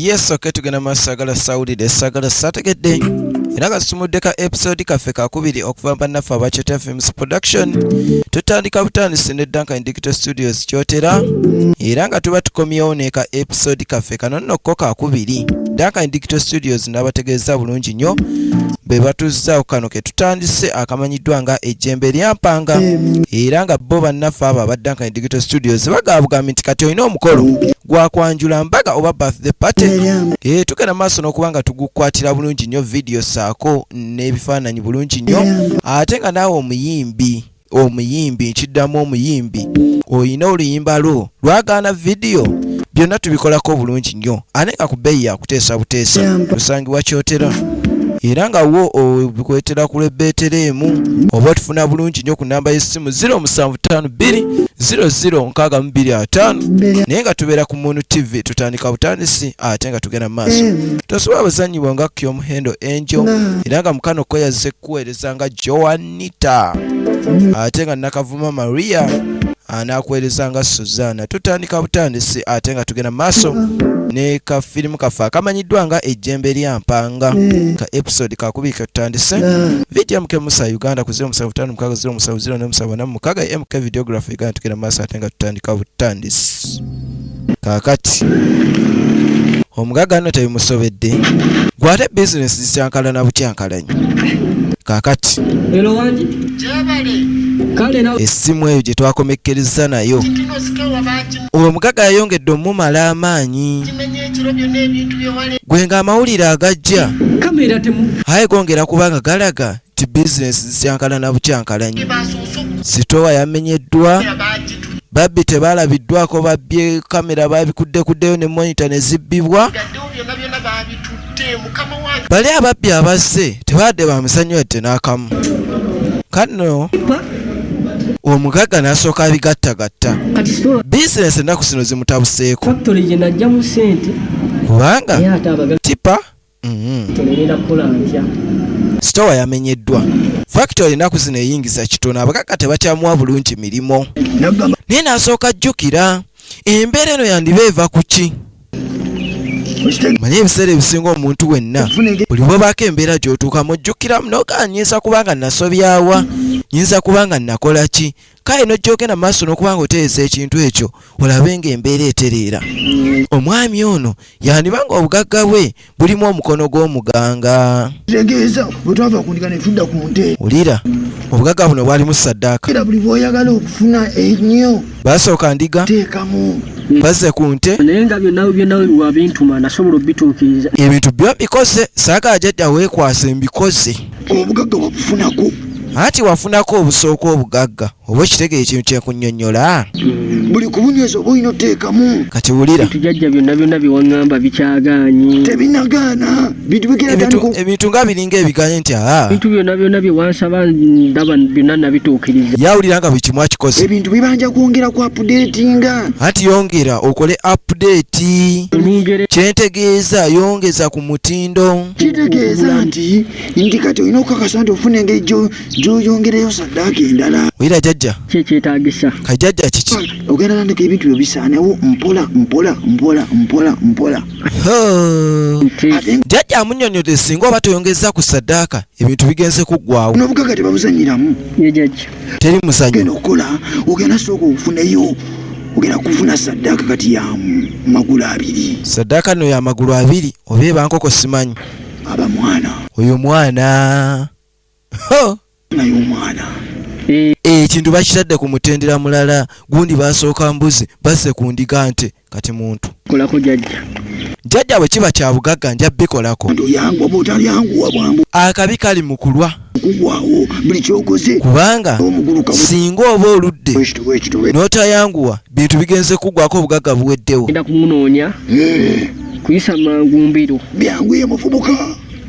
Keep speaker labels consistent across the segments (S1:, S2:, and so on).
S1: yes okay tugenda maaso sagala sawulidde sagala sategedde era nga tusumudde ka episode kaffe kakubiri okuva bannaffe aba kyotera films production tutandika butandisi ne duncan digital studios kyotera era nga tuba tukomyewo ne ka episode kaffe kano nno ko kakubiri duncan digital studios n'abategeeza bulungi nnyo be batuzzaawo kano tutandise akamanyiddwa nga ejjembe lyampanga era nga bo bannaffe abo abadda nkanyi digital studios bagaabugambi nti kati olina omukolo gwakwanjula mbaga oba birthday party e, tugenda maaso n'okuba nga tugukwatira bulungi nnyo vidiyo saako n'ebifaananyi bulungi nnyo ate nga naawe omuyimbi omuyimbi nkiddamu omuyimbi olina oluyimba lwo lwagaana vidiyo byonna tubikolako obulungi nnyo ane nga ku bbeeyi yakuteesa buteesa tusangibwa kyotera era nga wo obikwetera ku lwebbeetera emu oba otufuna bulungi nnyo ku namba y'essimu 0752006225 naye nga tubeera ku munu tv tutandika butandisi ate nga tugenda mu maaso tosobola buzannyibwa nga kyomuhendo enjo era nga mukano kweyazze kuweereza nga joan Anita ate nga Nakavuma Maria anakuweereza nga Suzana. Tutandika butandisi ate nga tugenda maaso ne ka firimu kaffe akamanyiddwa nga ejjembe lya mpanga ka episode kakubiri ketutandise vidiyo mk musa uganda ku 07560707 mukaga mk videography uganda tugenda maaso ate nga tutandika butandisi kaakati omugagga no tebimusobedde gwate bizinesi zikyankalana bukyankalanyi kaakati essimu eyo gye twakomekkerezza nayo omugagga yayongedde omumala amaanyi gwe ng'amawulire agajja aye gongera kubanga galaga nti bizinesi zikyankala na bukyankalanyi sitoowa yamenyeddwa babbi tebaalabiddwako babbye kamera babikuddekuddeyo ne monita ne zibbibwa bali ababbi abazze tebadde bamusanyuwa tte n'akamu kano omugagga n'asooka abigattagatta bizinesi ennaku zino zimutabuseeko kubanga tipa sitowa yamenyeddwa factory enaku zino eyingiza kitono abakaka tebakyamuwa bulungi mirimu naye nasooka jjukira embeera eno yandiba eva ku ki manye ebiseera ebisinga omuntu wenna buli bwebaako embeera gyotuukamu ojjukiramu nogaanyiza kubanga nasobyawa nyinza kubanga nakola ki kale nojjogenda mu maaso n'okuba nga oteesa ekintu ekyo olabe nga embeera etereera omwami ono yandiba nga obugagga bwe bulimu omukono gw'omuganga tegeeza bwetwava kundika netudda ku nte wulira obugagga buno bwalimu saddaaka era buli bwoyagala okufuna ennyo basooka ndiga teekamu bazze ku nte naye nga byonna byonna wabintuma nasobola obituukiriza ebintu byo mbikoze saagala jajja weekwase mbikoze obugagga
S2: wabufunako anti wafunako
S1: obusooka obugagga oba ekitegere ekintu kyekunnyonnyola buli
S2: kubunyweza oba olina oteekamu kati wulira tujajja
S1: byonna byonna
S3: byewaŋŋamba bikyagaanyi tebinagaana
S1: ebintu nga biringa ebiganye nti aa bintu byonna byonna
S3: byewansaba ndaba byonna nabituukiriza yawulira nga buli kimu
S1: akikoze ebintu bibanja kwongera
S2: ku apudeetinga anti yongera
S1: okole apudeeti kyentegeeza yongeza ku mutindo kitegeeza nti
S2: nti kati olina okukakasa nti ofuna engeri gyoyongerayo saddaaka endala oyira jajja
S1: kyekyetagisa ka
S3: jajja kiki
S1: ogenda tandika ebintu
S2: byo bisaanewo mpola mpola mpola mpola mpola
S1: jajja amunyonyode singa oba toyongeza ku saddaaka ebintu bigenze kuggwawo nobugaga tebabuzanyiramu
S2: jajja
S3: teri muzanyo ogenda
S1: okukola
S2: ogenda sooka okufuneyo ogenda kufuna saddaaka kati ya magulu abiri saddaaka no ya
S1: magulu abiri oba eba nkoko simanyi aba mwana
S2: oyo mwana naye omwana eh,
S1: ekintu eh, bakitadde ku mutendera mulala gundi basooka mbuzi basse ku ndiga nte kati muntu kolako jajja
S3: jajja bwe kiba kya bugagga
S1: nja bikolako
S2: akabi kali mu
S1: kulwa
S2: kubanga
S1: singa oba oludde n'otayanguwa bintu bigenze kuggwako obugagga buweddewo
S3: kuyisa mangu mbiro byanguye muvubuka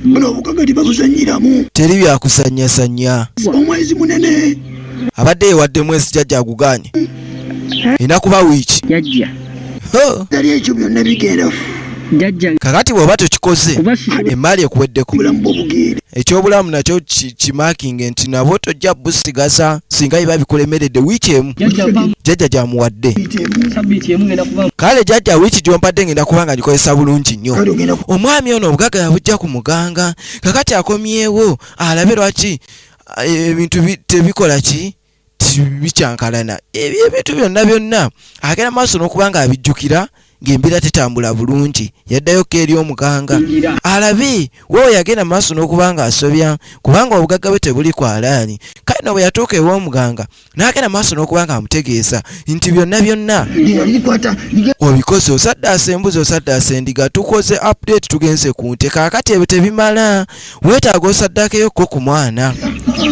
S2: buno obugaga tebabuzanyiramu teri
S1: byakuzanyazanya omwezi munene
S2: abadde yewadde
S1: mwezi jajja aguganye enakuba wiiki
S2: jajja
S3: tali ekyo
S2: byonna bigenda
S3: kakati bweoba
S1: tokikoze emaali
S3: ekuweddeko
S2: ekyobulamu nakyo
S1: kimakinge nti nabwo tojja busigaza singa biba bikulemeredde wiiki emu jajja
S3: gyamuwadde kale jajja wiiki
S1: gyompadde ngenda kubanga ngikozesa bulungi nnyo omwami ono
S2: obugaga
S1: yabujja ku muganga kakati akomyewo alabe lwaki eh, ebintu tebikola ki bikyankalana ebyo ebintu byonna byonna agenda maaso n'okuba nga abijjukira ng'embeera tetambula bulungi yaddayo ko eri omuganga alabe wewe yagenda maaso n'okuba nga asobya kubanga obugagga bwe tebuli ku alaani kale no bwe yatuuka ew'omuganga n'agenda maaso n'okuba nga amutegeeza nti byonna byonna
S2: obikoze
S1: osaddaasa embuzi osaddaasa endiga tukoze update tugenze ku nte kaakati ebyo tebimala weetaaga osaddaakeyo kko ku mwana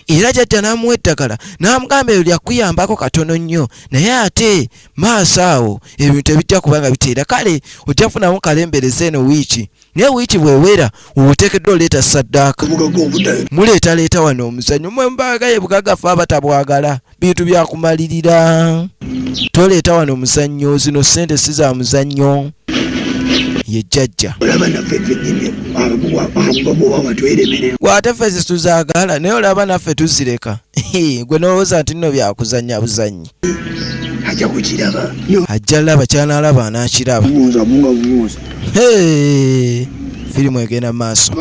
S1: era jajja n'amuwa eddagala n'amugamba eyo lyakuyambako katono nnyo naye ate maaso awo ebintu ebijja kuba nga biteera kale ojja kufunamu kalembereza eno wiiki naye wiiki bwewera oteekeddwa oleeta saddaaka
S2: muleetaleeta wano
S1: omuzannyo mwe mubagaye bugagafa abatabwagala bintu byakumalirira toleeta wano muzannyo zino sente si za muzannyo ye jajja
S2: gwate ffe
S1: zituzagala naye olaba naffe tuzireka gwe nolowooza nti nno byakuzanya buzanyi ajja
S2: kukiraba ajja laba
S1: kyanalaba anakiraba firimu egenda maaso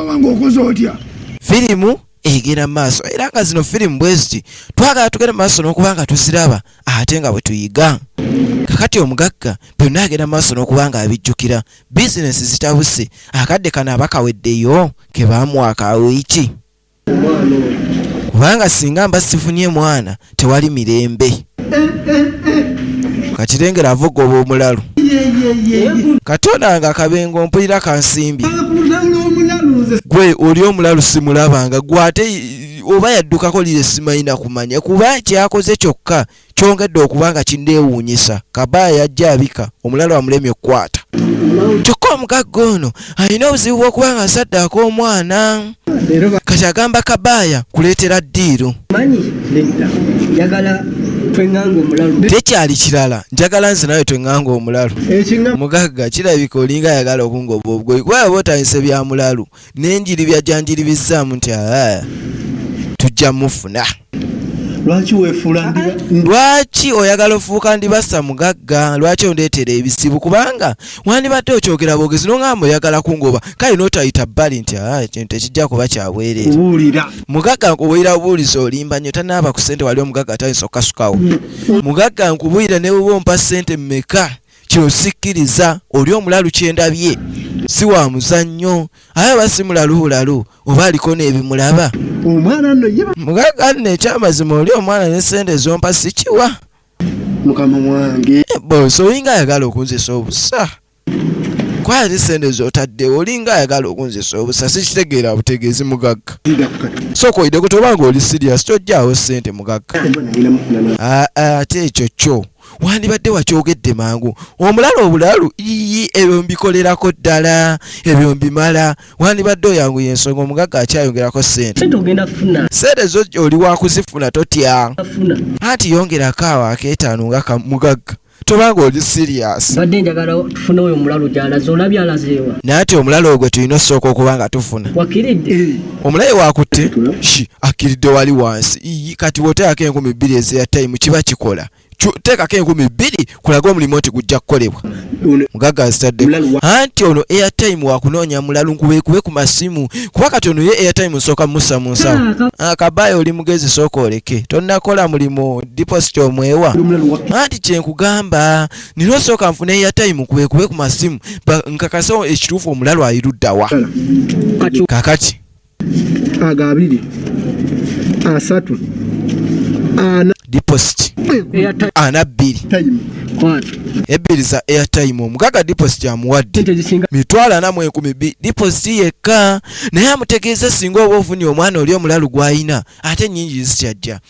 S2: firimu
S1: egenda maaso era nga zino firimu bweziti twagala tugenda maaso n'okuba nga tuziraba ate nga bwe tuyiga kakati omugagga byonna agenda maaso n'okuba nga abijjukira bizinesi zitabuse akadde kano abakaweddeyo ke baamuwaka wiiki kubanga singa mba sifunye mwana tewali mirembe kati lengera avuga oba omulalu katonda nga akabengo mpulira kansimbi gwe oli omulalu simulabanga gwe ate oba yaddukako lire simayina kumanya kuba kyakoze kyokka kyongedde okuba nga kindeewuunyisa kabaa yajja abika omulalu amulemye okukwata kyokka omugagga ono alina obuzibu bw'okuba nga asaddaaka omwana kati agamba kabaaya kuleetera ddiiru
S3: tekyali kirala
S1: njagala nze nawe tweŋŋanga omulalu mugagga kirabika olinga ayagala okungoba obugoyi kuba yaba otandise bya mulalu n'enjiri byajanjiribizzaamu nti aa tujja mufuna lwaki wefuula ndiba lwaki oyagala ofuuka ndibasa mugagga lwaki ondeetera ebizibu kubanga wandibadde okyogera bwogezi nongamba oyagala kungoba kale notayita bbali nti ah, kintu ekijja kuba kyabwereera mugagga nkubuulira bubuulizi olimba nyo tanaaba ku sente wali omugagga atayinza okukasukawo mugagga nkubuulira newuba ompa sente mmeka kino sikkiriza oli omulalu kyendabye si wa muzannyo aye aba si mulalu bulalu oba aliko n'ebimulaba
S2: mugaga nno ekyamazima
S1: oli omwana ne sente ezompa sikiwa mukama
S2: wange eh, bosi olinga
S1: ayagala okunzisa obusa kwaya ne sente zotaddewo olinga ayagala okunzisa obusa sikitegeera butegeezi mugagga sooka oyideko tobanga oli sirias tojjaawo sente mugagga ah, ah, ate ekyo kyo wandibadde wakyogedde mangu omulala obulalu ii ebyo mbikolerako ddala ebyo mbimala wandibadde oyangu yensonga omugagga akyayongerako sente sente zo oli wakuzifuna totya anti yongerako awo akeetaano nga kamugagga tobanga oli serious badde njagala tufune
S3: oyo omulalu gyalaze olabye alazeewa naye ati omulalu ogwe
S1: tulina osooka okuba nga tufuna wakiridde eh.
S3: omulaye wakutte
S1: shi akiridde wali wansi kati bwoteekako enkumi bbiri ezeya time kiba kikola teekako enkumi bbiri kulaga omulimu nti gujja kukolebwa mugagga azitadde anti ono airtime wakunoonya mulalu nkubekube ku masimu kuba kati ono ye airtime nsooka musa mu nsawo akabayo oli mugezi sooka oleke tonnakola mulimu deposit omwewa anti kyenkugamba nina osooka nfuna airtime nkubekube ku masimu nkakasa ekituufu omulalu ayiruddawa kakati
S2: ago abiri asatu ana deposit
S1: ana bbiri ebbiri za airtime omugaga deposit amuwadde mitwalo ana mu enkumi bbiri deposit yekka naye amutegeeza singa oba ofunye omwana oli omulalu gw'alina ate ennyingi zikyajja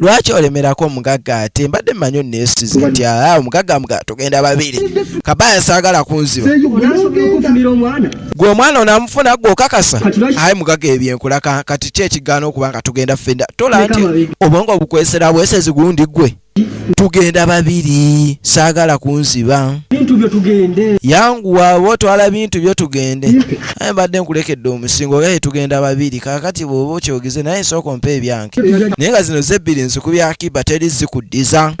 S1: lwaki olemerako omugagga ate mbadde mmanyi onneesize nti aa omugagga mga tugenda babiri kabaya saagala kunziba gwe omwana onamufuna gwe okakasa aye mugagga ebyenkula kati ki ekigaana okuba nga tugenda ffenda tola nti obwongo obukwesera bwesezi gundi gwe tugenda babiri saagala kunziba
S3: yanguwa oba
S1: otwala bintu byo tugende naye mbadde nkulekedde omusingo gaye tugenda babiri kakati bwoba okyogeze naye sooka ompa ebyange naye nga zino zebbiri nziku bya kiba teri zikuddiza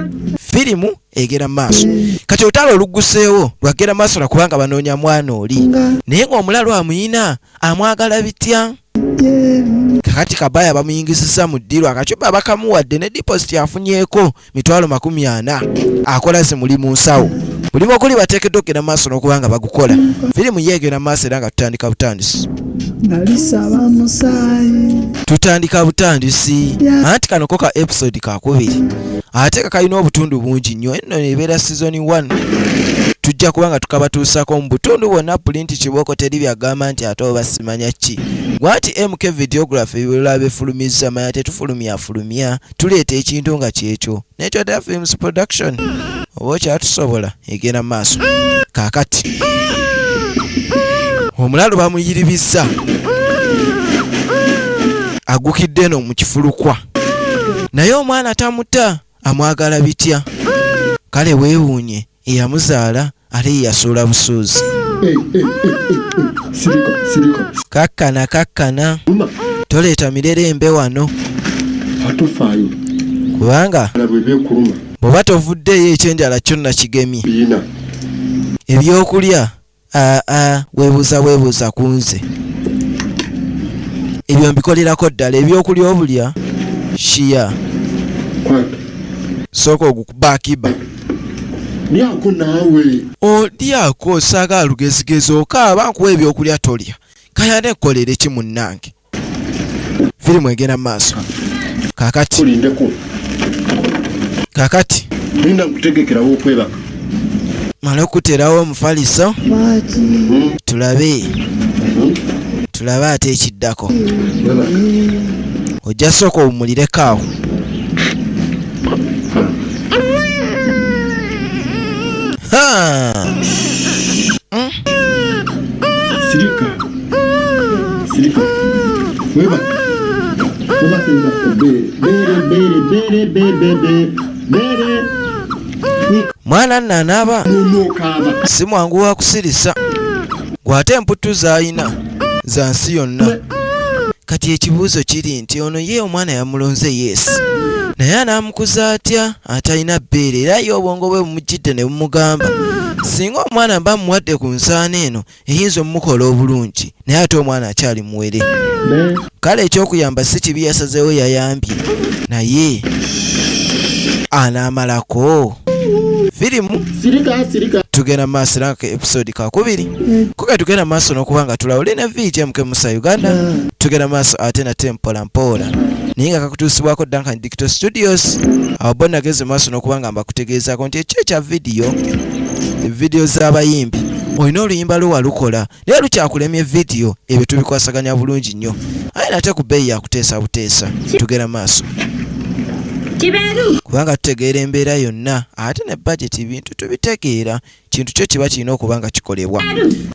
S1: firimu egera maaso kati olutalo oluguseewo lwagera maaso lwakubanga banoonya mwana oli naye ngaomulalu amuyina amwagala bitya kakati kabaya bamuyingisiza mu ddiru akacupa bakamuwadde ne deposit afunyeeko mitwalo makumi ana akola ze muli mu nsawo mulimu okuli bateekeddwa okugenda mu maaso n'okuba nga bagukola firimu ye egenda maaso era nga tutandika butandisi tutandika butandisi anti kano ko ka episode kakubiri ate kakalina obutundu bungi nnyo enno ebeera sizoni 1 tujja kuba nga tukabatuusako mu butundu bwonna pulinti kibooko teri byagamba nti ate obasima manya ki gwati MK videography ebirala befulumizza manya tetufulumya fulumya tuleeta ekintu nga kyekyo nekyo da films production oba okyatusobola egenda maaso kakati omulalu bamuyiribizza agukidde eno mu kifulukwa naye omwana tamuta amwagala bitya kale weewuunye eyamuzaala ate ye yasuula busuuzi kakkana kakkana toleeta mirerembe wano kubanga bw'oba tovuddeeyo ekyenjala kyonna kigemye ebyokulya aa ah, ah, webuuza bwebuuza ku nze ebyo mbikolerako ddala ebyokulya obulya shiya sooka ogukuba akiba
S4: lyako naawe olyako
S1: osaaga alugezigezi okaaba nkuwa ebyokulya tolya kayane ekkolere ki munnange firimu egenda mu maaso kakati
S4: kakati
S1: linda nkutegekerawo
S4: okwebaka mala
S1: okuterawo omufaliso hmm? tulabe hmm? tulabe ate ekiddako ojja sooka owumulireko awo mwana nno anaaba si mwangu wa kusirisa gw'ate emputtu z'alina za nsi yonna kati ekibuuzo kiri nti ono ye omwana yamulonze yes naye anaamukuza atya atalina bbeere era ye obwongo bwe bumujjidde ne bumugamba singa omwana mba muwadde ku nsaana eno eyinza omukola obulungi naye ate omwana akyali muwere kale ekyokuyamba si kibi yasazeewo yayambye naye anaamalako firimu tugenda maaso era episode kakubiri kuga tugenda maaso n'okuba nga tulawo lina vija muke musa uganda tugenda maaso ate nate mpola mpola naye nga kakutuusibwako dankan Kito Studios awo bo nageze maaso n'okuba nga mbakutegeezaako nti ekyo ekya vidiyo vidiyo z'abayimbi olina oluyimba lwe walukola naye lukyakulemye vidiyo ebyo tubikwasaganya bulungi nnyo aye nate ku bbeeyi yakuteesa buteesa tugera maaso kubanga tutegeera embeera yonna ate ne bajeti bintu tubitegeera kintu kyo kiba kirina okuba nga kikolebwa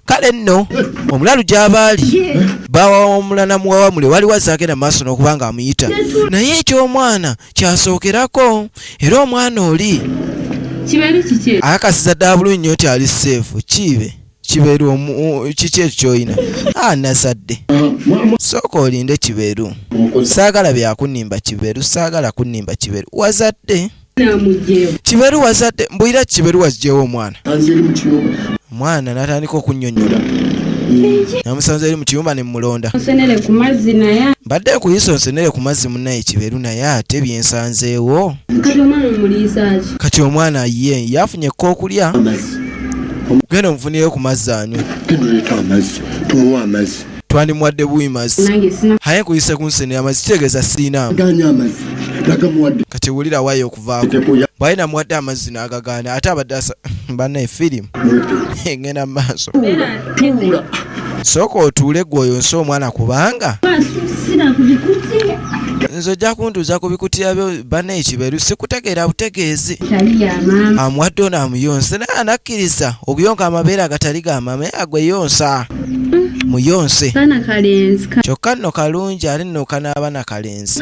S1: kale nno omulalu gy'abaali bawawamula namuwawamule waliwo azaagenda mu maaso n'okuba nga amuyita naye eky'omwana kyasookerako era omwana oli akakasiza ddala bulungi nnyo nti ali seefu kiibe kibeeru kiki ekyo kyolina a nazadde sooka olinde kibeeru saagala byakunimba kibeeru saagala kunimba kibeeru wazadde kiberu wazadde mbulira kiberu wazigyewo omwana omwana natandika okunyonyola namusanze eri mu kiyumba ne mulonda mbadde nkuyiso nsenere ku mazzi munaye kiberu naye ate byensanzeewo kati omwana ye yafunye ekkokulya genda omufunire ku mazzi anywe twandimuwadde buwi mazi haye nkuyise ku nsene amazi kitegeeza sirina
S4: kati wulira
S1: wayo okuvaako bwaye namuwadde
S4: amazzi
S1: n'agagaana ate abadde asa banaye firimu ngenda mu maaso
S4: sooka
S1: otuule gwe oyo nsi omwana kubanga nze ojja kuntuuza ku bikutiya byo bana ekiberu sikutegeera butegeezi amuwadde ono amuyonse naye anakkiriza okuyonka amabeere agatali gamame agweyonsa muyonse kyokka nno kalungi ate nno kanaaba na kalenzi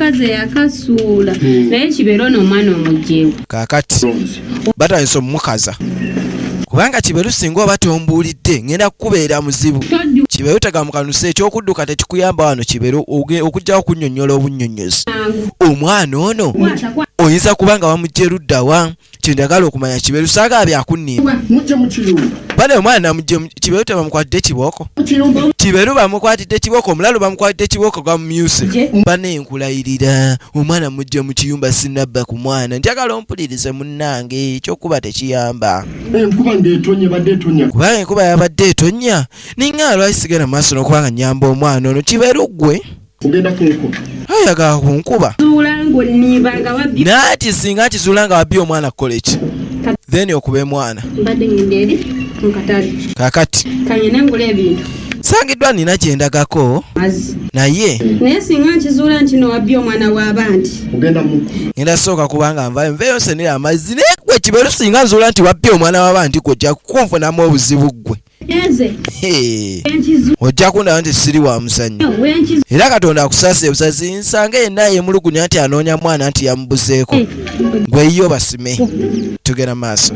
S5: kakati
S1: batandise omumukaza kubanga kiberu singa oba tombuulidde ngenda kukubeera muzibu kiberu tegamukanuse ekyokudduka tekikuyamba wano kiberu okujjawo okunyonyola obunyonyozi omwana ono oyinza kuba nga wamugjeruddawa kyendagala okumanya kiberu saga byakunimba
S4: bana omwana namuje
S1: kiberu tebamukwatidde kibooko kiberu bamukwatidde kibooko omulalu bamukwatidde kibooko gwamumyuse bana enkulayirira omwana mujje mu kiyumba sinabba ku mwana njagala ompulirize munnange ekyokuba tekiyamba
S4: kubanga enkuba yabadde
S1: etonya ninga alwaisigala maaso nokubanga nyamba omwana ono kiberu gwe
S4: kugenda kunkuba ayaga
S1: kunkuba nati singa akizula nga wabbi omwana kukola eki then okuba emwana
S5: kakati sangiddwa nina
S1: gyendagako naye naye
S5: singa
S1: nkizuula
S5: nti nowabbi omwana wabandi
S4: ngenda sooka kubanga
S1: nvayo nveyo nsenera amazzi naye gwe kiberu singa nzuula nti wabbi omwana wabandi gwe ojja kunfunamu obuzibu ggwe ojja kundaba nti siri wa muzannyo era katonda akusasa ebusazi nsanga yenna yemulugunya nti anoonya mwana nti yamubuzeeko gweyiyo basime tugenda maaso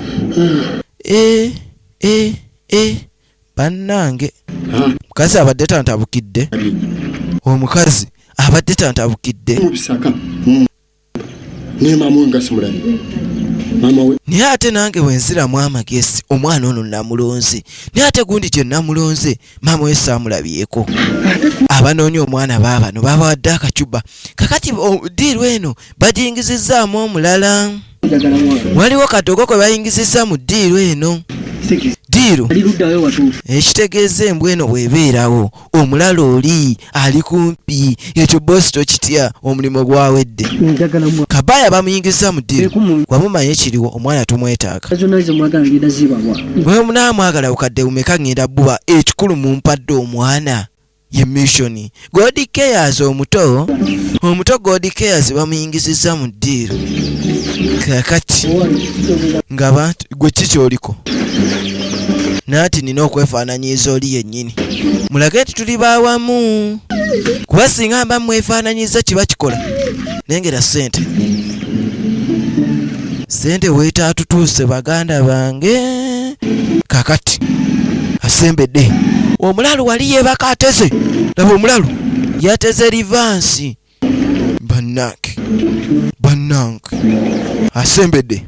S1: eh, eh, eh, bannange mukazi abadde tantabukidde omukazi abadde tantabukidde
S4: naye ate nange
S1: wenziramu amagezi omwana ono namulonze naye ate gundi gye namulonze maama we saamulabyeko abanoonya omwana baabano babawadde akacuba kakati diiru eno bagiyingizizaamu omulala waliwo kadogo kwe bayingiziza mu diiru eno diiru ekitegeeza embwa eno bwebeerawo omulala oli ali kumpi ekyo bosi tokitya omulimu gwawedde kabaya bamuyingiza mu diri wamumanya ekiriwo omwana tumwetaaga gwe munaamwagala bukadde bumeka ngenda buba ekikulu mumpadde omwana ye missioni god cares omuto omuto god cares bamuyingizizza mu ddiiro kakati ngaabantu gwe ki kyoliko nati nina okwefaananyiza oli yennyini mulage nti tuli bawamu kuba singa mba mwefaananyiza kiba kikola nengera sente sente weetaatutuuse baganda bange kakati asembedde omulalu wali yeebaka ateze laba omulalu yateze livansi bannange bannange asembedde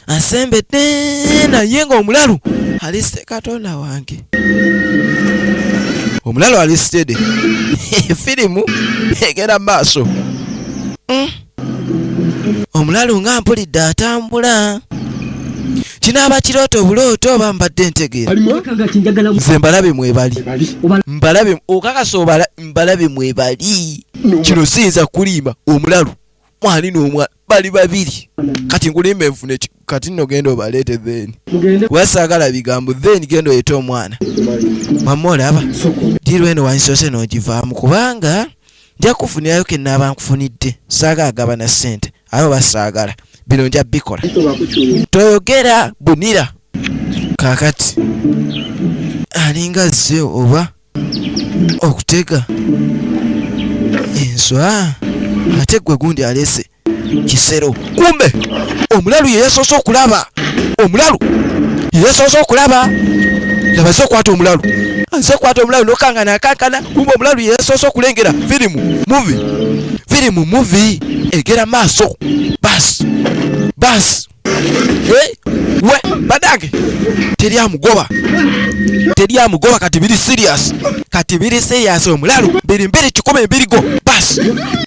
S1: asembedde naye nga omulalu alisite katonda wange omulalu alisitede firimu egera maaso mm. omulalu nga mpulidde atambula kinaaba kirooto obulooto oba mbadde ntegeera nze mbalabe mwebali mbalabe okakasa obala mbalabe mwebali kino siyinza kulimba omulalu mwali n'omwana bali babiri kati nkulimba enfune kati nno genda obaleete then kuba saagala bigambo then genda oyete omwana mamma olaba diru eno wansoose n'ogivaamu kubanga nja kufunirayo ke naaba nkufunidde saaga agaba na ssente abo basaagala bino nja bikola toyogera bunira kakati alinga azze oba okutega enswa ate gwe gundi alese kisero kumbe omulalu yeyasoose okulaba omulalu yeyasoose okulaba nabaze okwata omulalu aze okwata omulalu nokangana akankana kumbe omulalu yeyasoose okulengera firimu muvi firimu muvi egera maaso basi basi Eh, we badange teri amugoba teri amugoba kati biri serious kati biri serious omulalu biri mbiri kikumi ebirigo bas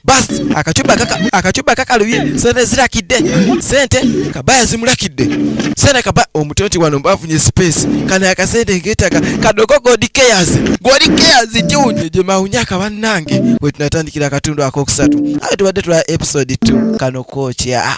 S1: bas akacuba kaka akacuba kakalubye sente zirakidde sente kabaya zimurakidde sente kaba omutwe nti wano mbafunye space kana akasente ngetaka kadogo god cares god cares tiwunye gye mawunyaka bannange we tunatandikira akatundu akokusatu awo tubadde tula episode 2 kano kookya